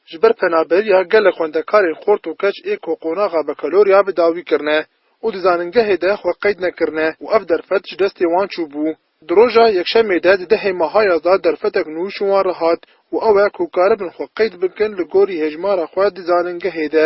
Ji ber penaberiya gelek xwendekarên xort û keç ê ku qonaxa bekaloriya bi dawî kirine û di zanîngehê de xwe qeyd nekirine û ev derfet ji destê wan çûbû. Di roja Yekşemê de di dehê Mahayas de derfetek nû ji wan re hat û ew e ku karibin xwe qeyd bikin li gorî hejmara xwe di zanîngehê de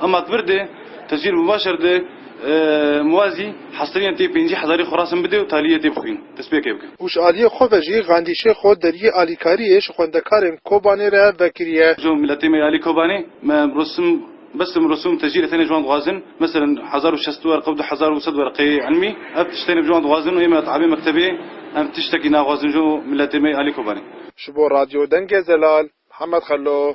Amat vir de, Teswîr Mubaşer de Muwazî hestirîyan tê pêncî hezarî xwe resim bide û talîyê tê bixwîn, destpêkê bike. Hûşalîyê xwe ve jî Gandî Şêxo derîyê alîkarîyê ji xwendekarên Kobanê re vekirîye. Ji miletê me yê alî Kobanê me rosim bestim rosûm tecîrê tenê ji wan dixwazin meselin hezar û şest werq û du hezar û sed werqeyê ilmî ev tişt tenê ji wan dixwazin û ê me di avê mektebê em tiştekî naxwazin ji miletê me yê alî Kobanê. Ji bo Radyo Dengê Zelal, Mihemed Xello.